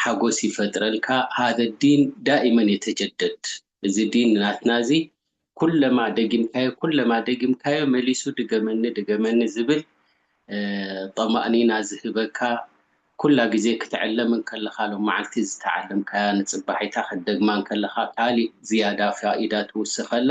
ሓጎስ ይፈጥረልካ ሀዘ ዲን ዳኢመን የተጀደድ እዚ ዲን ናትና እዚ ኩለማ ደጊምካዮ ኩለማ ደጊምካዮ መሊሱ ድገመኒ ድገመኒ ዝብል ጠማእኒና ዝህበካ ኩላ ግዜ ክትዕለም እንከለኻ ሎማዓልቲ ዝተዓለምካያ ንጽባሒታ ክትደግማ እንከለኻ ካሊእ ዝያዳ ፋኢዳ ትውስኸላ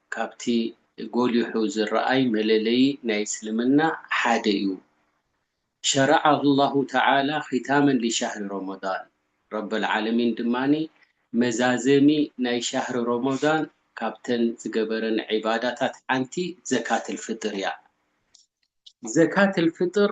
ካብቲ ጎሊሑ ዝረኣይ መለለዪ ናይ እስልምና ሓደ እዩ። ሸረዐ ኣላሁ ተዓላ ኺታመን ሊሻህሪ ሮሞዳን፣ ረበል ዓለሚን ድማ መዛዘሚ ናይ ሻህሪ ሮሞዳን ካብተን ዝገበረን ዒባዳታት ሓንቲ ዘካተል ፍጥር እያ። ዘካተል ፍጥር፣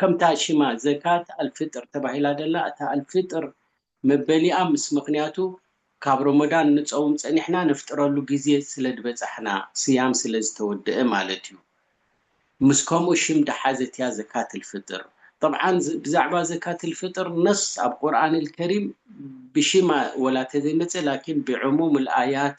ከምታ ሽማ ዘካት ኣልፍጥር ተባሂላ ዘላ እታ ኣልፍጥር መበሊኣ ምስ ምኽንያቱ ካብ ሮሞዳን ንጸውም ጸኒሕና ነፍጥረሉ ግዜ ስለድበጻሕና ስያም ስለዝተወደኣ ማለት እዩ ምስ ከምኡ ሽም ድሓዘት እያ ዘካት ኣልፍጥር ጠብዓን ብዛዕባ ዘካት ኣልፍጥር ነስ ኣብ ቁርኣን ኣልከሪም ብሽማ ወላ ተዘይመጸ ላኪን ብዕሙም ኣልኣያት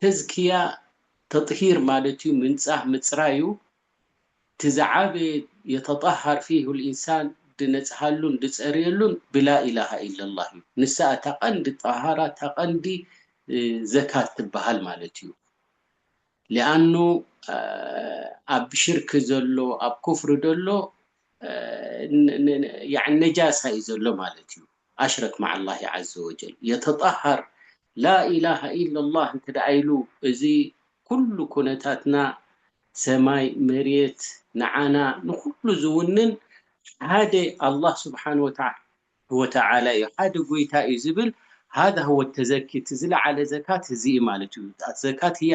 ተዝክያ፣ ተጥሂር፣ ማለትዩ ምንጻህ ምጽራዩ እቲ ዝዓበየ የተጠሃር ፊሁ ልኢንሳን ድነጽሃሉን ድጸርየሉን ብላኢላሃ ኢለላህ እዩ ንሳ እታ ቀንዲ ጠሃራ እታ ቀንዲ ዘካት ትበሃል ማለት እዩ ሊኣኑ ኣብ ሽርክ ዘሎ ኣብ ኩፍሪ ደሎ ያኒ ነጃሳ እዩ ዘሎ ማለት እዩ ኣሽረክ ማዓላሂ ዓዘወጀል የተጣሃር ላኢላሃ ኢለላህ እንተ ደኣ ኢሉ እዚ ኩሉ ኩነታትና ሰማይ መሬት ንዓና ንኩሉ ዝውንን ሓደ ኣላህ ስብሓን ወተዓ ወተዓላ እዩ ሓደ ጎይታ እዩ ዝብል ሃዛ ወተዘኪ እቲ ዝለዓለ ዘካት እዚ ማለት እዩ ዘካት እያ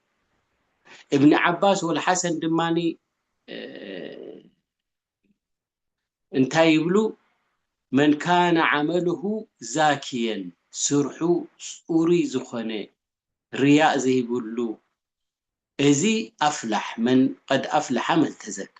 እብኒ ዓባስ ወል ሓሰን ድማ እንታይ ይብሉ መን ካነ ዓመልሁ ዛኪየን ስርሑ ፅሩይ ዝኾነ ርያእ ዘይብሉ እዚ ኣፍላሕ መን ቀድ ኣፍላሓ መን ተዘካ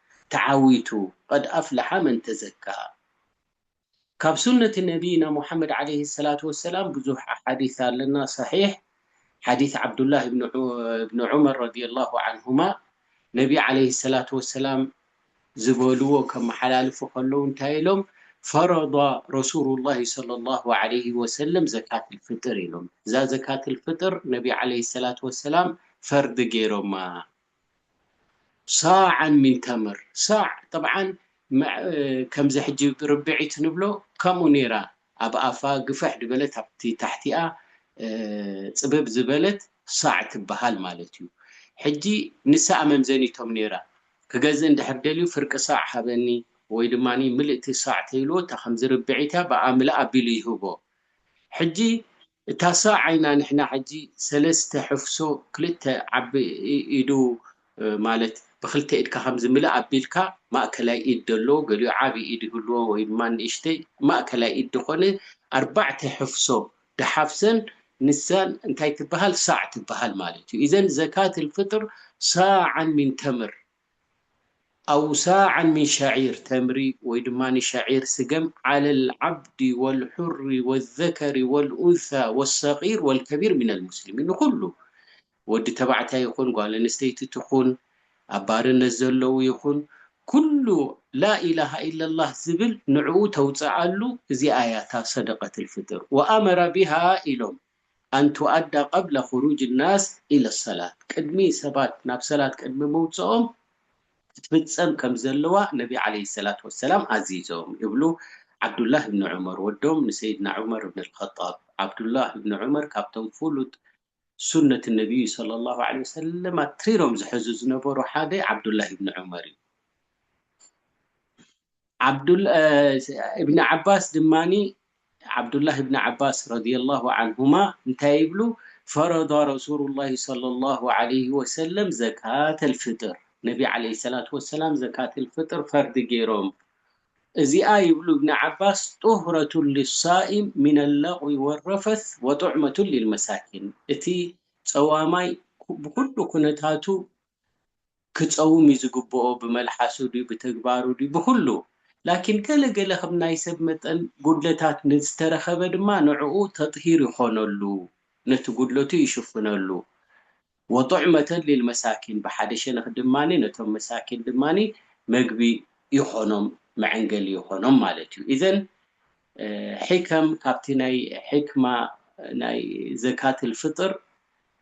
ተዓዊቱ ቐድ ኣፍለሓ መን ተዘካ ካብ ሱነት ነብይና ሙሓመድ ዓለይሂ ሰላቱ ወሰላም ብዙሕ ኣሓዲት ኣለና ሰሒሕ ሓዲት ዓብዱላህ እብኒ ዑመር ረዲየላሁ ዓንሁማ ነቢ ዓለይሂ ሰላቱ ወሰላም ዝበልዎ ከመሓላልፉ ከለው እንታይ ኢሎም ፈረዷ ረሱሉላሂ ሰለሏሁ ዓለይሂ ወሰለም ዘካተል ፍጥር ኢሎም እዛ ዘካተል ፍጥር ነቢ ዓለይሂ ሰላቱ ወሰላም ፈርዲ ገይሮማ ሳዕን ሚን ተምር ሳዕ ጠብዓን ከምዚ ሕጂ ርብዒት ንብሎ ከምኡ ኔራ ኣብ ኣፋ ግፍሕ ድበለት ኣብቲ ታሕቲኣ ጽብብ ዝበለት ሳዕ ትብሃል ማለት እዩ ሕጂ ንሳ መምዘኒቶም ኔራ ክገዝእ እንድሕር ደልዩ ፍርቂ ሳዕ ሃበኒ ወይ ድማ ምልእቲ ሳዕ ተይልዎ እታ ከምዚ ርብዒት እያ ብኣምልእ ኣቢሉ ይህቦ ሕጂ እታ ሰ ዓይና ንሕና ሕጂ ሰለስተ ሕፍሶ ክልተ ዓቢ ኢዱ ማለት ብክልተ ኢድካ ከም ዝምልእ ኣቢልካ ማእከላይ ኢድ ደለዎ ገሊኡ ዓቢ ኢድ ይህልዎ ወይ ድማ ንእሽተይ ማእከላይ ኢድ ድኮነ ኣርባዕተ ሕፍሶ ድሓፍሰን ንሳ እንታይ ትብሃል ሳዕ ትብሃል ማለት እዩ ኢዘን ዘካት ኣልፍጥር ሳዓን ሚን ተምር ኣው ሳዕን ምን ሸዒር ተምሪ ወይ ድማ ሸዒር ስገም ዓለል ዓብዲ ወልሑሪ ወዘከሪ ወልኡንሳ ወሰቂር ወልከቢር ሚነል ሙስሊሚን ንኹሉ ወዲ ተባዕታይ ይኹን ጓል ኣንስተይቲ ትኹን ኣብ ባርነት ዘለው ይኹን ኩሉ ላኢላሃ ኢለላህ ዝብል ንዕኡ ተውፀኣሉ እዚኣ እያ እታ ሰደቀትል ፍጥር ወኣመረ ቢሃ ኢሎም ኣን ቱኣዳ ቀብለ ኹሩጅ ናስ ኢለ ሰላት፣ ቅድሚ ሰባት ናብ ሰላት ቅድሚ ምውጽኦም ክትፍጸም ከም ዘለዋ ነቢ ዓለይሂ ሰላት ወሰላም ኣዚዞም ይብሉ ዓብዱላህ እብኒ ዑመር ወዶም ንሰይድና ዑመር እብኒ ኣልኸጣብ ዓብዱላህ እብኒ ዑመር ካብቶም ፍሉጥ ሱነት ነብዩ ሰለላሁ ዓለይሂ ወሰለም ኣትሪሮም ዝሕዙ ዝነበሩ ሓደ ዓብዱላህ እብኒ ዑመር እዩ። እብኒ ዓባስ ድማ ዓብዱላህ እብኒ ዓባስ ረድየላሁ ዓንሁማ እንታይ ይብሉ ፈረዳ ረሱሉላሂ ሰለላሁ ዓለይሂ ወሰለም ዘካተል ፍጥር ነቢ ዓለይሂ ሰላቱ ወሰላም ዘካተል ፍጥር ፈርዲ ገይሮም እዚኣ ይብሉ እብኒ ዓባስ ጡህረቱን ሊሳኢም ሚነ ለቕዊ ወረፈት ወጡዕመቱን ሊልመሳኪን እቲ ፀዋማይ ብኩሉ ኩነታቱ ክጸውም እዩ ዝግብኦ ብመልሓሱ ድዩ ብተግባሩ ድዩ ብኹሉ ላኪን ገለ ገለ ከም ናይ ሰብ መጠን ጉድለታት ንዝተረኸበ ድማ ንዕኡ ተጥሂር ይኾነሉ ነቲ ጉድለቱ ይሽፍነሉ ወጡዕመተን ሊልመሳኪን ብሓደ ሸነኽ ድማ ነቶም መሳኪን ድማ መግቢ ይኾኖም መዐንገሊ ይኾኖም ማለት እዩ ኢዘን ሒከም ካብቲ ናይ ሒክማ ናይ ዘካትል ፍጥር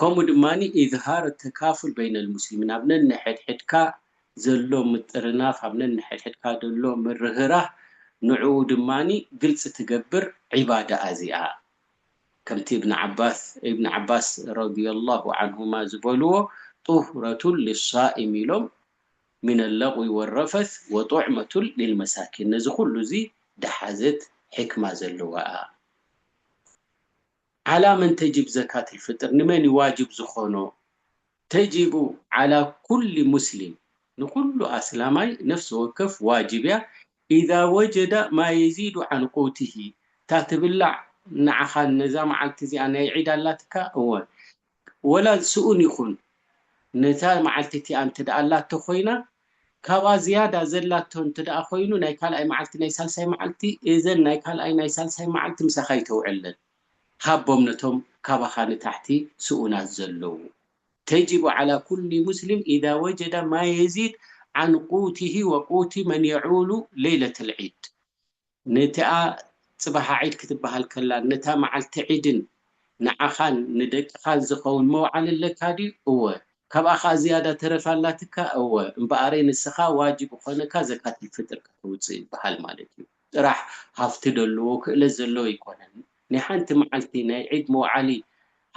ከምኡ ድማ ኢዝሃር ተካፉል በይነል ሙስሊሚን ኣብ ነንሕድሕድካ ዘሎ ምጥርናፍ፣ ኣብ ነንሕድሕድካ ዘሎ ምርህራህ ንዕኡ ድማ ግልጺ ትገብር ዒባዳ ኣዚኣ። ከምቲ እብን ዓባስ፣ ኢብን ዓባስ ረዲየላሁ ዓንሁማ ዝበልዎ ጡህረቱን ሊሳኢም ኢሎም ሚነል ለግዊ ወረፈስ ወጡዕመቱን ሊልመሳኪን ነዚ ኩሉ እዚ ድሓዘት ሕክማ ዘለዋ'ያ። ዓላ መን ተጂብ ዘካት ልፍጥር ንመን እዩ ዋጅብ ዝኾኖ ተጂቡ ዓላ ኩሊ ሙስሊም ንኹሉ ኣስላማይ ነፍሲ ወከፍ ዋጅብ እያ ኢዛ ወጀዳ ማ የዚዱ ዓን ቁውቲሂ እታ ትብላዕ ንዓኻ ነዛ መዓልቲ እዚኣ ናይ ዒድ ኣላትካ እወ ወላ ዝስኡን ይኹን ነታ መዓልቲ እቲኣ እንተደኣ ኣላቶ ኮይና ካብኣ ዝያዳ ዘላቶ እንተደኣ ኮይኑ ናይ ካልኣይ መዓልቲ ናይ ሳልሳይ መዓልቲ እዘን ናይ ካልኣይ ናይ ሳልሳይ መዓልቲ ምሳኻ ይተውዕለን ሃቦም ነቶም ካባኻ ንታሕቲ ስኡናት ዘለዉ ተጅቡ ዓላ ኩሊ ሙስሊም ኢዛ ወጀደ ማ የዚድ ዓን ቁቲሂ ወቁቲ መን የዑሉ ለይለተል ዒድ ነቲኣ ጽባሓ ዒድ ክትብሃል ከላን ነታ መዓልቲ ዒድን ንዓኻን ንደቅኻን ዝኸውን መውዓሊ ኣለካ ድዩ? እወ። ካብኣ ከኣ ዝያዳ ተረፍ ኣላትካ? እወ። እምበኣረይ ንስኻ ዋጅብ እኾነካ ዘካተል ፍጥር ከተውጽእ ይብሃል ማለት እዩ። ጥራሕ ሃፍቲ ደለዎ ክእለት ዘለዎ ኣይኮነን። ናይ ሓንቲ መዓልቲ ናይ ዒድ መውዓሊ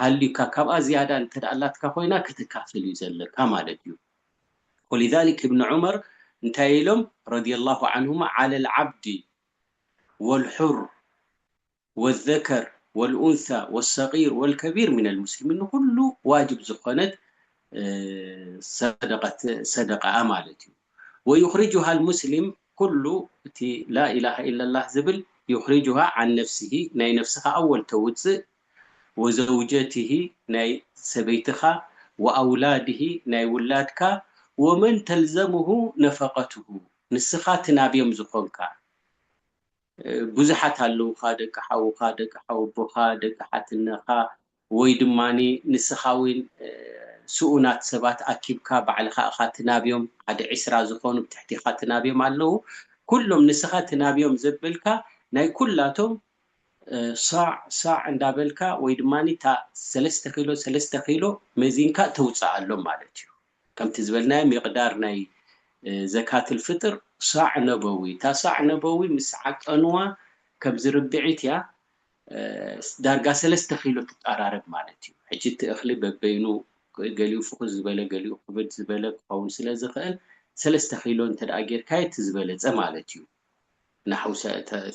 ሃልዩካ ካብኣ ዝያዳ እንተድኣ ኣላትካ ኮይና ከተካፍል እዩ ዘለካ ማለት እዩ። ወሊዛሊክ እብን ዑመር እንታይ ኢሎም ረዲየላሁ ዓንሁማ ዓለል ዓብዲ ወልሑር ወዘከር ወልኡንሳ ወሰጊር ወልከቢር ሚነል ሙስሊሚን ንኹሉ ዋጅብ ዝኾነት ሰደቀት ሰደቀኣ ማለት እዩ ወዩኽሪጁሃል ሙስሊም ኩሉ እቲ ላኢላሃ ኢለላህ ዝብል ዩኽሪጁሃ ዓን ነፍሲሂ ናይ ነፍስኻ ኣወል ተውጽእ ወዘውጀትህ ናይ ሰበይትኻ ወኣውላድህ ናይ ውላድካ ወመን ተልዘምሁ ነፈቀትሁ ንስኻ ትናብዮም ዝኾንካ ብዙሓት ኣለውኻ ደቂ ሓውኻ ደቂ ሓወቦኻ ደቂ ሓትነኻ ወይ ድማ ንስኻ ውን ስኡናት ሰባት ኣኪብካ ባዕልኻ እኻ ትናብዮም ሓደ ዕስራ ዝኾኑ ብትሕቲኻ ትናብዮም ኣለዉ ኩሎም ንስኻ ትናብዮም ዘበልካ ናይ ኩላቶም ሳዕ ሳዕ እንዳበልካ ወይ ድማ እታ ሰለስተ ኪሎ ሰለስተ ኪሎ መዚንካ ተውጽኣሎም ማለት እዩ። ከምቲ ዝበልናዮ ሚቅዳር ናይ ዘካትል ፍጥር ሳዕ ነበዊ እታ ሳዕ ነበዊ ምስ ዓቀንዋ ከምዚ ርብዒት እያ ዳርጋ ሰለስተ ኪሎ ትቃራረብ ማለት እዩ። ሕጂ እቲ እኽሊ በበይኑ ገሊኡ ፍኹስ ዝበለ ገሊኡ ክብድ ዝበለ ክኸውን ስለ ዝኽእል ሰለስተ ኪሎ እንተድኣ ጌርካዮ እቲ ዝበለጸ ማለት እዩ። ናሕው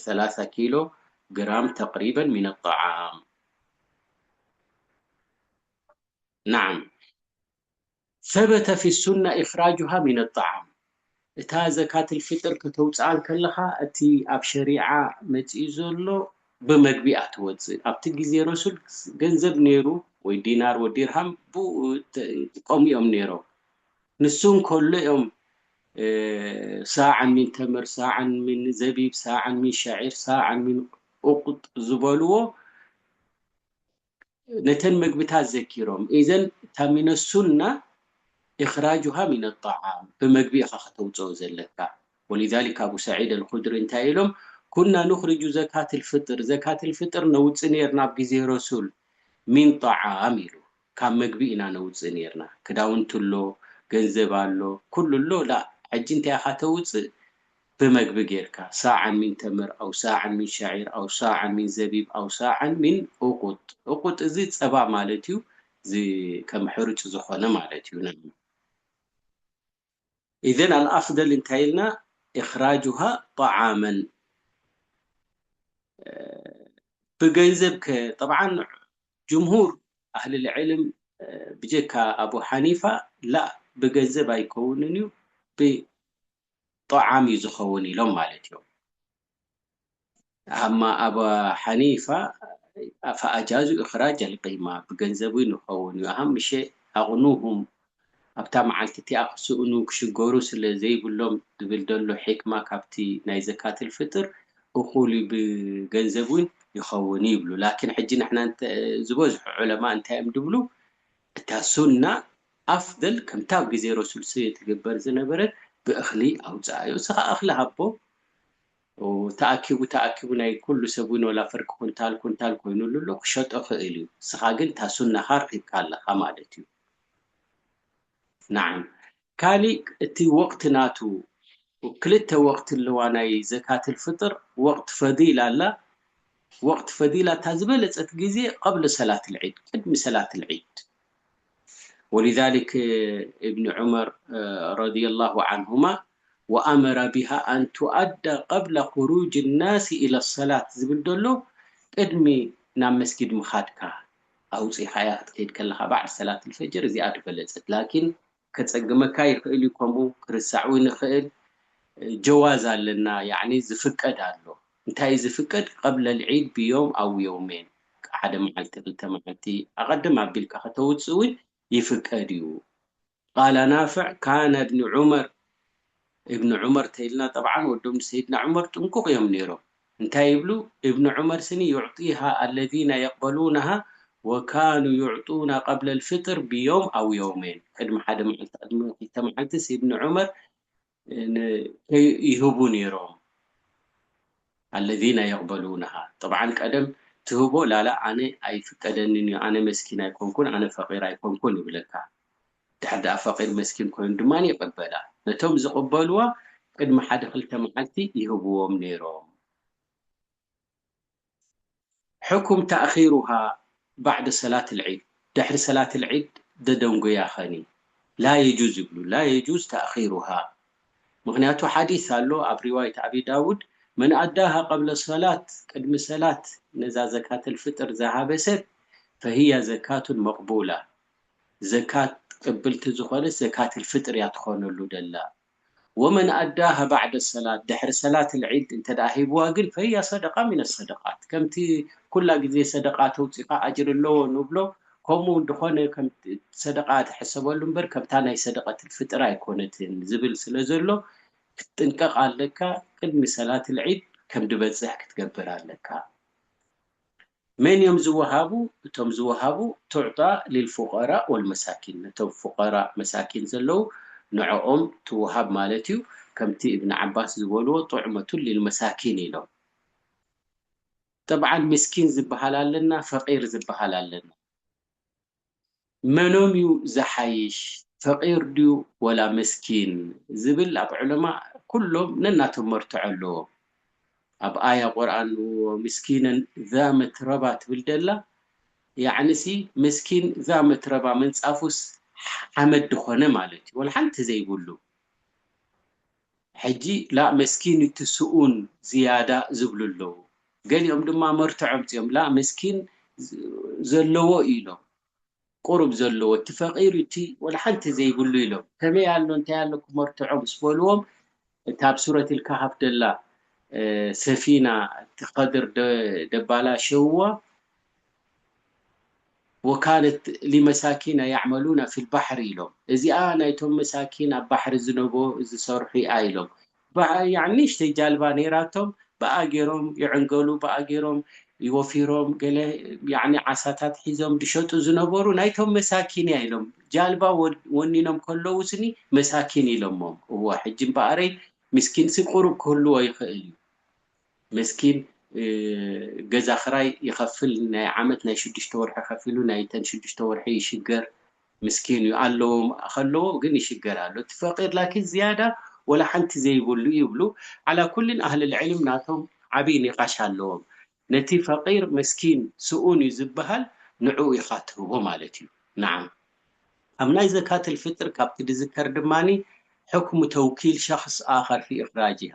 ሰላሳ ኪሎ ግራም ተቅሪበን ሚነ ጣዓም ናዓም ሰበተ ፊ ሱና ኢኽራጁሃ ሚነ ጣዓም እታ ዘካትል ፊጥር ከተውጽኣ እንከለኻ እቲ ኣብ ሸሪዓ መጺኡ ዘሎ ብመግቢ እያ ትወጽእ ኣብቲ ግዜ ረሱል ገንዘብ ኔሩ ወይ ዲናር ወዲርሃም ብኡ ይጥቀሙ እዮም ኔሮም ንሱ እንከሎ እዮም ሳዕን ሚን ተምር ሳዕን ሚን ዘቢብ ሳዕን ሚን ሸዒር ሳዕን ሚን ኡቅጥ ዝበልዎ ነተን መግብታት ዘኪሮም እዘን እታ ሚነ ሱና እኽራጁሃ ሚነ ጣዓም ብመግቢ ኢኻ ከተውፅኦ ዘለካ ወሊዛሊክ ኣቡ ሰዒድ ኣልኹድሪ እንታይ ኢሎም ኩና ኑኽርጁ ዘካት ልፍጥር ዘካት ልፍጥር ነውፅእ ነርና ኣብ ግዜ ረሱል ሚን ጣዓም ኢሉ ካብ መግቢ ኢና ነውጽእ ኔርና ክዳውንቲ ኣሎ ገንዘብ ኣሎ ኩሉ ኣሎ ላእ ሕጂ እንታይ ኢኻ ተውጽእ ብመግቢ ጌርካ ሳዕን ሚን ተምር ኣው ሳዕን ሚን ሸዒር ኣው ሳዕን ሚን ዘቢብ ኣው ሳዕን ሚን ኡቁጥ ኡቁጥ እዚ ጸባ ማለት እዩ እዚ ከም ሕሩጭ ዝኾነ ማለት እዩ። ኢዘን ኣልኣፍደል እንታይ ኢልና ኢኽራጁሃ ጠዓመን ብገንዘብ ከ ጠብዓን ጅምሁር ኣህልልዕልም ብጀካ ኣቡ ሓኒፋ ላእ ብገንዘብ ኣይከውንን እዩ ብጠዓም እዩ ዝኸውን ኢሎም ማለት እዮም። ኣማ ኣባ ሓኒፋ ፈኣጃዙ እኽራጅ ኣልቂማ ብገንዘብ ውን ይኸውን ዩ ኣሃምሸ ኣቕኑሁም ኣብታ መዓልቲ እቲኣ ክስእኑ ክሽገሩ ስለ ዘይብሎም ዝብል ደሎ ሒክማ ካብቲ ናይ ዘካትል ፍጥር እኹል ዩ ብገንዘብ ውን ይኸውን ይብሉ ላኪን ሕጂ ንሕና ዝበዝሑ ዑለማ እንታይ ዮም ድብሉ እታ ሱና ኣፍደል ከምታ ኣብ ግዜ ረሱል ስየ ትግበር ዝነበረት ብእኽሊ ኣውጽኣዮ እስኻ እኽሊ ሃቦ ተኣኪቡ ተኣኪቡ ናይ ኩሉ ሰብ ውን ወላ ፍርቂ ኩንታል ኩንታል ኮይኑሉ ኣሎ ክሸጦ ክእል እዩ እስኻ ግን እታ ሱናኻ ረኺብካ ኣለኻ ማለት እዩ ናዓም ካሊእ እቲ ወቅቲ ናቱ ክልተ ወቅቲ ኣለዋ ናይ ዘካትል ፍጥር ወቅት ፈዲል ኣላ ወቅት ፈዲላ እታ ዝበለጸት ግዜ ቀብለ ሰላትል ዒድ ቅድሚ ሰላትል ዒድ ወሊዛሊክ እብኒ ዑመር ረዲየላሁ ዓንሁማ ወኣመረ ቢሃ ኣን ቱኣዳ ቀብለ ኹሩጅ ናሲ ኢለ ሰላት ዝብል ዘሎ ቅድሚ ናብ መስጊድ ምኻድካ ኣውጺእኻያ ክትከይድ ከለኻ ባዕድ ሰላትል ፈጅር እዚኣ ድበለጸት ላኪን ከጸግመካ ይክእል እዩ ከምኡ ክርሳዕ ውን ይክእል ጀዋዝ ኣለና ያኒ ዝፍቀድ ኣሎ እንታይ እዩ ዝፍቀድ ቀብለ ልዒድ ብዮም ኣው የውሜን ሓደ መዓልቲ ክልተ መዓልቲ ኣቀድም ኣቢልካ ከተውጽእ ውን ይፍቀድ እዩ ቃለ ናፍዕ ካነ እብኒ ዑመር እብኒ ዑመር ተኢልና ጠብዓን ወዶም ሰይድና ዑመር ጥንቁቅ እዮም ነይሮም እንታይ ይብሉ እብኒ ዑመር ስኒ ዩዕጢሃ ኣለዚነ የቅበሉነሃ ወካኑ ዩዕጡና ቀብለ ልፍጥር ብዮም ኣው የውመይን ቅድሚ ሓደ መዓልቲ ቅድሚ ክልተ መዓልትስ እብኒ ዑመር ን ይህቡ ነይሮም ኣለዚነ የቅበሉነሃ ጠብዓን ቀደም ትህቦ ላላ ኣነ ኣይፍቀደንን እዩ ኣነ መስኪን ኣይኮንኩን ኣነ ፈቂር ኣይኮንኩን ይብለካ ድሕር ደኣ ፈቂር መስኪን ኮይኑ ድማ ይቅበላ። ነቶም ዝቅበልዋ ቅድሚ ሓደ ክልተ መዓልቲ ይህብዎም ነይሮም። ሕኩም ታእኺሩሃ ባዕደ ሰላት ልዒድ ድሕሪ ሰላት ልዒድ ደደንጉያ ኸኒ ላ የጁዝ ይብሉ ላ የጁዝ ታእኺሩሃ ምኽንያቱ ሓዲስ ኣሎ ኣብ ሪዋይት ኣቢ ዳውድ መን ኣዳሃ ቀብለ ሰላት ቅድሚ ሰላት ነዛ ዘካተል ፍጥር ዝሃበ ሰብ ፈህያ ዘካቱን መቅቡላ ዘካት ተቀብልቲ ዝኾነት ዘካትል ፍጥር እያ ትኾነሉ ደላ ወመን ኣዳሃ ባዕደ ሰላት ድሕሪ ሰላትል ዒድ እንተ ሂብዋ ግን ፈህያ ሰደቃ ሚነ ሰደቃት ከምቲ ኩላ ግዜ ሰደቃ ተውጺኻ ኣጅሪ ኣለዎ ንብሎ ከምኡ እንተኾነ ከም ሰደቃ ትሕሰበሉ እምበር ከምታ ናይ ሰደቀትል ፍጥር ኣይኮነትን ዝብል ስለ ዘሎ ክትጥንቀቅ ኣለካ ቅድሚ ሰላትል ዒድ ከምድበጽሕ ክትገብር ኣለካ። መን እዮም ዝወሃቡ? እቶም ዝወሃቡ ትዕጣ ሊልፉቀራእ ወልመሳኪን ነቶም ፉቀራእ መሳኪን ዘለዉ ንዖኦም ትወሃብ ማለት እዩ ከምቲ እብን ዓባስ ዝበልዎ ጡዕመቱን ሊልመሳኪን ኢሎም ጠብዓን ሚስኪን ዝበሃል ኣለና ፈቂር ዝበሃል ኣለና መኖም ዩ ዝሓይሽ ፈቂር ድዩ ወላ ምስኪን ዝብል ኣብ ዑለማእ ኩሎም ነናቶም መርትዖ ኣለዎም ኣብ ኣያ ቁርኣን ወሚስኪነን ዛ መትረባ ትብል ደላ ያዕኒ ሲ ምስኪን ዛ መትረባ ምንጻፉስ ሓመድ ድኮነ ማለት ዩ ወላ ሓንቲ ዘይብሉ ሕጂ ላእ መስኪን እቲ ስኡን ዝያዳ ዝብሉ ኣለዉ ገሊኦም ድማ መርትዖ ኣምጺኦም ላእ መስኪን ዘለዎ ኢዩ ኢሎም ቁሩብ ዘለዎ እቲ ፈቂሩ እቲ ወላ ሓንቲ ዘይብሉ ኢሎም ከመይ ኣሎ እንታይ ኣለኩም መርትዖ ምስ በልዎም እታ ኣብ ሱረቲል ካሃፍ ደላ ሰፊና እቲ ከድር ደባላሸውዋ ወካለት ሊመሳኪን ኣያዕመሉና ፊል ባሕሪ ኢሎም እዚኣ ናይቶም መሳኪን ኣብ ባሕሪ ዝነቦ ዝሰርሑ ኢያ ኢሎም ብኣያ ንእሽተይ ጃልባ ነይራቶም ብኣ ገይሮም ይዕንገሉ ብኣ ገይሮም ወፊሮም ገለ ያኒ ዓሳታት ሒዞም ድሸጡ ዝነበሩ ናይቶም መሳኪን ኢያ ኢሎም ጃልባ ወኒኖም ከለዉ ስኒ መሳኪን ኢሎሞም እወ ሕጂ እምበኣረይ ምስኪንሲ ቁሩብ ክህልዎ ይኽእል ኢዩ መስኪን ገዛ ክራይ ይከፍል ናይ ዓመት ናይ ሽዱሽተ ወርሒ ከፊሉ ናይ ተን ሽዱሽተ ወርሒ ይሽገር ምስኪን እዩ ኣለዎ ከለዎ ግን ይሽገር ኣሎ እቲ ፈቂር ላኪን ዝያዳ ወላ ሓንቲ ዘይብሉ እዩ ይብሉ ዓላ ኩልን ኣህል ልዕልም ናቶም ዓብይ ኒቃሽ ኣለዎም ነቲ ፈቂር መስኪን ስኡን እዩ ዝብሃል ንዕኡ ኢካ ትህቦ ማለት እዩ ናዓም ኣብ ናይ ዘካት ልፍጥር ካብቲ ድዝከር ድማኒ ሕክሙ ተውኪል ሸክስ ኣከር ፊ እክራጂሃ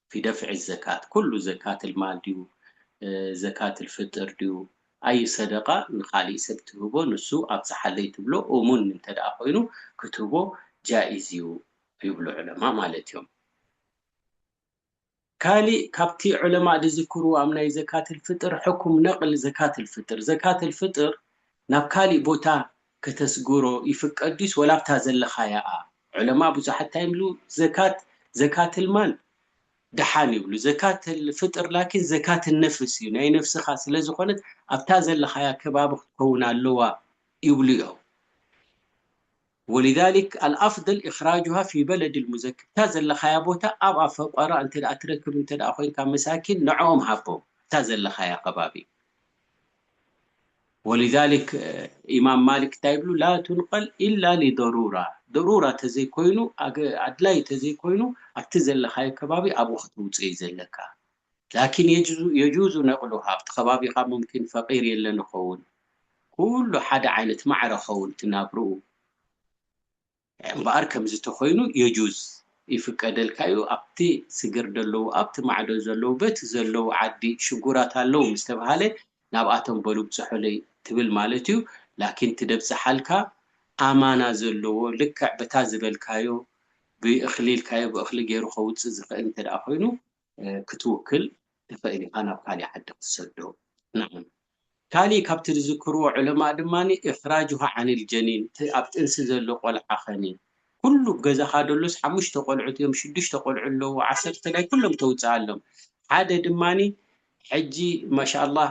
ፊ ደፍዒ ዘካት ኩሉ ዘካትል ማል ድዩ ዘካትል ፍጥር ድዩ ኣዩ ሰደቃ ንካሊእ ሰብ ትህቦ ንሱ ኣብጽሓለይ ትብሎ እሙን እንተ ኮይኑ ክትህቦ ጃኢዝ እዩ ይብሉ ዑለማእ ማለት እዮም ካሊእ ካብቲ ዑለማእ ድዝክርዎ ኣብ ናይ ዘካትል ፍጥር ሕኩም ነቅል ዘካትል ፍጥር ዘካትል ፍጥር ናብ ካሊእ ቦታ ከተስግሮ ይፍቀድ ድዩስ ወላ ኣብታ ዘለኻያ እኣ ዑለማእ ብዙሓት እንታይ ይብሉ ዘካት ዘካትል ማል ደሓን ይብሉ ዘካትል ፍጥር ላኪን ዘካትል ነፍስ እዩ ናይ ነፍስኻ ስለ ዝኾነት ኣብታ ዘለኻያ ከባቢ ክትከውን ኣለዋ ይብሉ እዮም ወሊዛሊክ ኣልኣፍደል እኽራጁሃ ፊ በለድል ሙዘክር እታ ዘለኻያ ቦታ ኣብ ኣብ ፈቆራ እንተ ደኣ ትረክብ እንተ ደኣ ኮይንካ መሳኪን ንዕኦም ሃቦም እታ ዘለኻያ ከባቢ ወሊዛሊክ ኢማም ማሊክ እንታይ ይብሉ ላ ቱንቀል ኢላ ሊደሩራ ደሩራ ተዘይኮይኑ ኣድላይ ተዘይኮይኑ ኣብቲ ዘለኻዮ ከባቢ ኣብኡ ከተውፅኦ እዩ ዘለካ ላኪን የጁዙ ነቅሉሃ ኣብቲ ከባቢኻ ሙምኪን ፈቂር የለን ይኸውን ኩሉ ሓደ ዓይነት ማዕረ ኸውን እቲ ናብርኡ እምበኣር ከምዚ ተኮይኑ የጁዝ ይፍቀደልካ እዩ ኣብቲ ስግር ደለዉ ኣብቲ ማዕዶ ዘለዉ በቲ ዘለዉ ዓዲ ሽጉራት ኣለዉ ምስ ተብሃለ ናብኣቶም በሉ ብጽሑለይ ትብል ማለት እዩ ላኪን እቲ ደብጽሓልካ ኣማና ዘለዎ ልክዕ በታ ዝበልካዮ ብእክሊ ኢልካዮ ብእክሊ ጌሩ ከውጽእ ዝክእል እንተ ኮይኑ ክትውክል ትኽእል ኢኻ ናብ ካሊእ ዓዲ ክትሰዶ። ናም። ካሊእ ካብቲ ዝዝክርዎ ዑለማእ ድማ ኢኽራጁሃ ዓኒል ጀኒን እቲ ኣብ ጥንሲ ዘሎ ቆልዓ ኸኒ ኩሉ ኣብ ገዛኻ ደሎስ ሓሙሽተ ቆልዑት እዮም ሽዱሽተ ቆልዑ ኣለዉ ዓሰርተ ናይ ኩሎም ተውጽኣሎም ሓደ ድማ ሕጂ ማሻኣላህ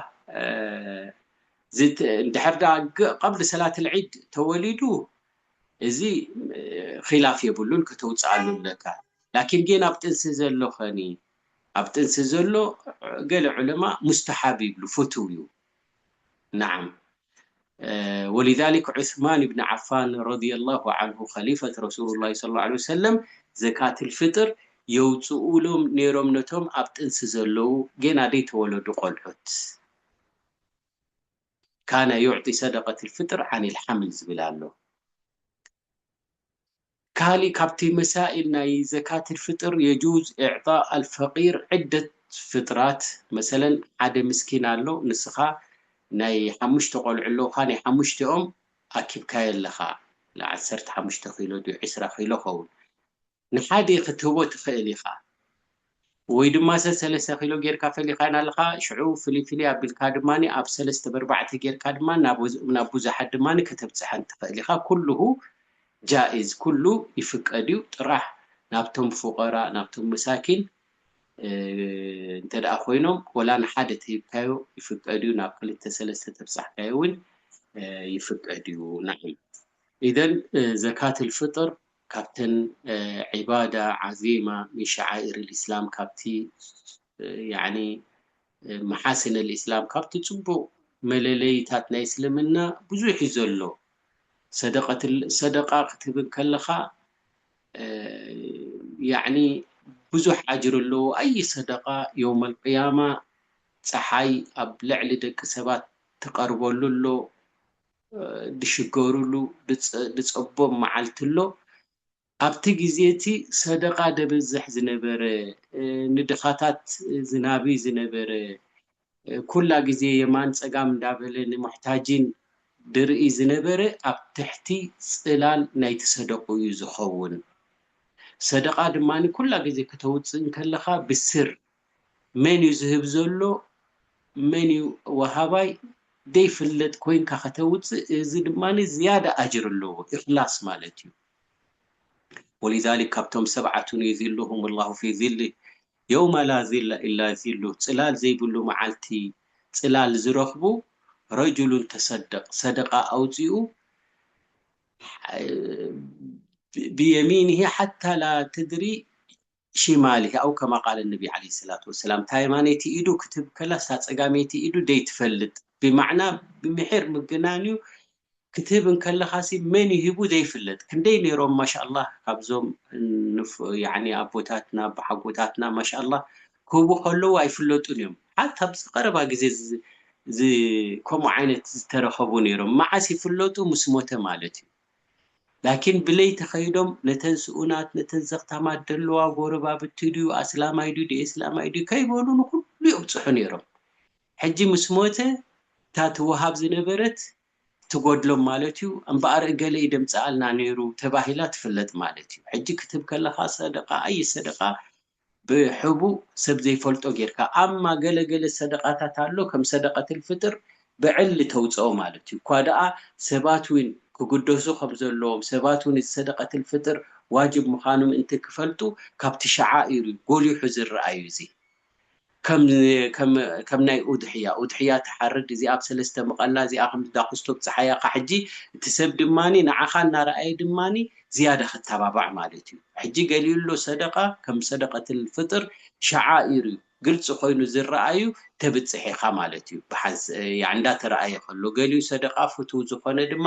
ድሕር ደኣ ቀብሊ ሰላትል ዒድ ተወሊዱ እዚ ኺላፍ የብሉን ከተውጽኣሉ ኣለካ ላኪን ጌን ኣብ ጥንሲ ዘሎ ከኒ ኣብ ጥንሲ ዘሎ ገለ ዑለማ ሙስተሓብ ይብሉ ፍቱው ዩ ናዓም ወሊዛሊክ ዑስማን እብኒ ዓፋን ረዲየላሁ ዓንሁ ኸሊፈት ረሱሉላሂ ሰለላሁ ዓለይሂ ወሰለም ዘካትል ፍጥር የውጽኡሎም ኔሮም ነቶም ኣብ ጥንሲ ዘለዉ ጌና ደይተወለዱ ቆልዑት። ካነ ዩዕጢ ሰደቀቲል ፍጥር ዓኒል ሓምል ዝብል ኣሎ። ካሊእ ካብቲ መሳኢል ናይ ዘካቲል ፍጥር የጁዝ ኢዕጣእ ኣልፈቂር ዕደት ፍጥራት መሰለን ሓደ ምስኪን ኣሎ ንስኻ ናይ ሓሙሽተ ቆልዑ ኣለውኻ ናይ ሓሙሽቲኦም ኣኪብካዮ ኣለኻ ዓሰርተ ሓሙሽተ ኪሎ ድዩ ዕስራ ኪሎ ኸውን ንሓደ ክትህቦ ትኽእል ኢኻ ወይ ድማ ሰሰለሰ ኪሎ ጌርካ ፈሊኻየን ኣለኻ ሽዑ ፍልይ ፍልይ ኣቢልካ ድማ ኣብ ሰለስተ በርባዕተ ጌርካ ድማ ናብ ቡዙሓት ድማ ከተብጽሐን ትኽእል ኢኻ ኩሉሁ ጃኢዝ ኩሉ ይፍቀድ እዩ ጥራሕ ናብቶም ፉቀራ ናብቶም መሳኪን እንተ ኮይኖም ወላ ንሓደ ተሂብካዮ ይፍቀድ እዩ ናብ ክልተ ሰለስተ ተብጻሕካዮ ውን ይፍቀድ እዩ ናዓም ኢዘን ዘካትል ፍጥር ካብተን ዒባዳ ዓዚማ ምን ሸዓኢር ልእስላም ካብቲ ያኒ መሓስን ልእስላም ካብቲ ጽቡቕ መለለይታት ናይ እስልምና ብዙሕ እዩ ዘሎ ሰደቀት ሰደቃ ክትህብ እንከለኻ ያኒ ብዙሕ ኣጅር ኣለዎ ኣይ ሰደቃ የውም ልቅያማ ጸሓይ ኣብ ልዕሊ ደቂ ሰባት ትቀርበሉ ኣሎ ድሽገሩሉ ድጸቦም መዓልቲ ኣሎ። ኣብቲ ግዜ እቲ ሰደቓ ደበዝሕ ዝነበረ፣ ንድኻታት ዝናቢ ዝነበረ፣ ኩላ ግዜ የማን ጸጋም እንዳበለ ንሙሕታጂን ድርኢ ዝነበረ ኣብ ትሕቲ ጽላል ናይቲ ሰደቕኡ እዩ ዝኸውን። ሰደቓ ድማ ኩላ ግዜ ክተውጽእ እንከለኻ ብስር መንዩ ዝህብ ዘሎ መንዩ ወሃባይ ደይፍለጥ ኮይንካ ከተውጽእ እዚ ድማ ዝያዳ ኣጅር ኣለዎ ኢኽላስ ማለት እዩ ወሊዛሊክ ካብቶም ሰብዓቱን ዩዚሉሁም ላሁ ፊ ዚሊ የውማ ላ ዚላ ኢላ ዚሉ ጽላል ዘይብሉ መዓልቲ ጽላል ዝረኽቡ ረጁሉን ተሰደቅ ሰደቃ ኣውጺኡ ብየሚንሂ ሓታ ላ ተድሪ ሺማሊ ኣው ከማ ቃለ ነቢ ዓለይሂ ሰላቱ ወሰላም፣ እታ የማነይቲ ኢዱ ክትህብ ከላስ እታ ጸጋመይቲ ኢዱ ዘይትፈልጥ ብማዕና ብምሒር ምግናን'ዩ፣ ክትህብ እንከለኻሲ መን እዩ ሂቡ ዘይፍለጥ፣ ክንደይ ኔሮም ማሻላህ ካብዞም ያኒ ኣቦታትና ኣቦሓጎታትና ማሻላህ ክህቡ ከለዉ ኣይፍለጡን እዮም፣ ሓታ ኣብዚ ቀረባ ግዜ ከምኡ ዓይነት ዝተረኸቡ ኔሮም፣ መዓስ ይፍለጡ ምስ ሞተ ማለት እዩ። ላኪን ብለይቲ ከይዶም ነተን ስኡናት ነተን ዘኽታማት ደለዋ ጎረባብቲ ድዩ ኣስላማይ ድዩ ደኤስላማይ ድዩ ከይበሉ ንኹሉ የብጽሑ ነይሮም ሕጂ ምስ ሞተ እታ ትወሃብ ዝነበረት ትጎድሎም ማለት እዩ እምበኣር እገለ እዩ ደምጽኣልና ነይሩ ተባሂላ ትፍለጥ ማለት እዩ ሕጂ ክትህብ ከለኻ ሰደቃ ኣይ ሰደቃ ብሕቡእ ሰብ ዘይፈልጦ ጌርካ ኣማ ገለ ገለ ሰደቃታት ኣሎ ከም ሰደቀትል ፍጥር ብዕሊ ተውጽኦ ማለት እዩ እኳ ደኣ ሰባት ዊን ክግደሱ ከም ዘለዎም ሰባት ዊን እዚ ሰደቀትል ፍጥር ዋጅብ ምካኑ ምእንቲ ክፈልጡ ካብቲ ሸዓኢር እዩ ጎሊሑ ዝርኣ እዩ እዚ ከም ከም ናይ ኡድሕያ ኡድሕያ ትሓርድ እዚኣ ብ ሰለስተ ምቐላ እዚኣ ከምዚ ዳኹስቶ ብጽሓያ እካ ሕጂ እቲ ሰብ ድማ ንዓኻ እናረኣየ ድማ ዝያዳ ክተባባዕ ማለት እዩ ሕጂ ገሊኡ ኣሎ ሰደቃ ከም ሰደቀትል ፍጥር ሸዓኢር እዩ ግልጺ ኮይኑ ዝረኣዩ ተብጽሕ ኢኻ ማለት እዩ ብሓንስ ያዕ እንዳተረኣየ ከሎ ገሊኡ ሰደቃ ፍቱው ዝኾነ ድማ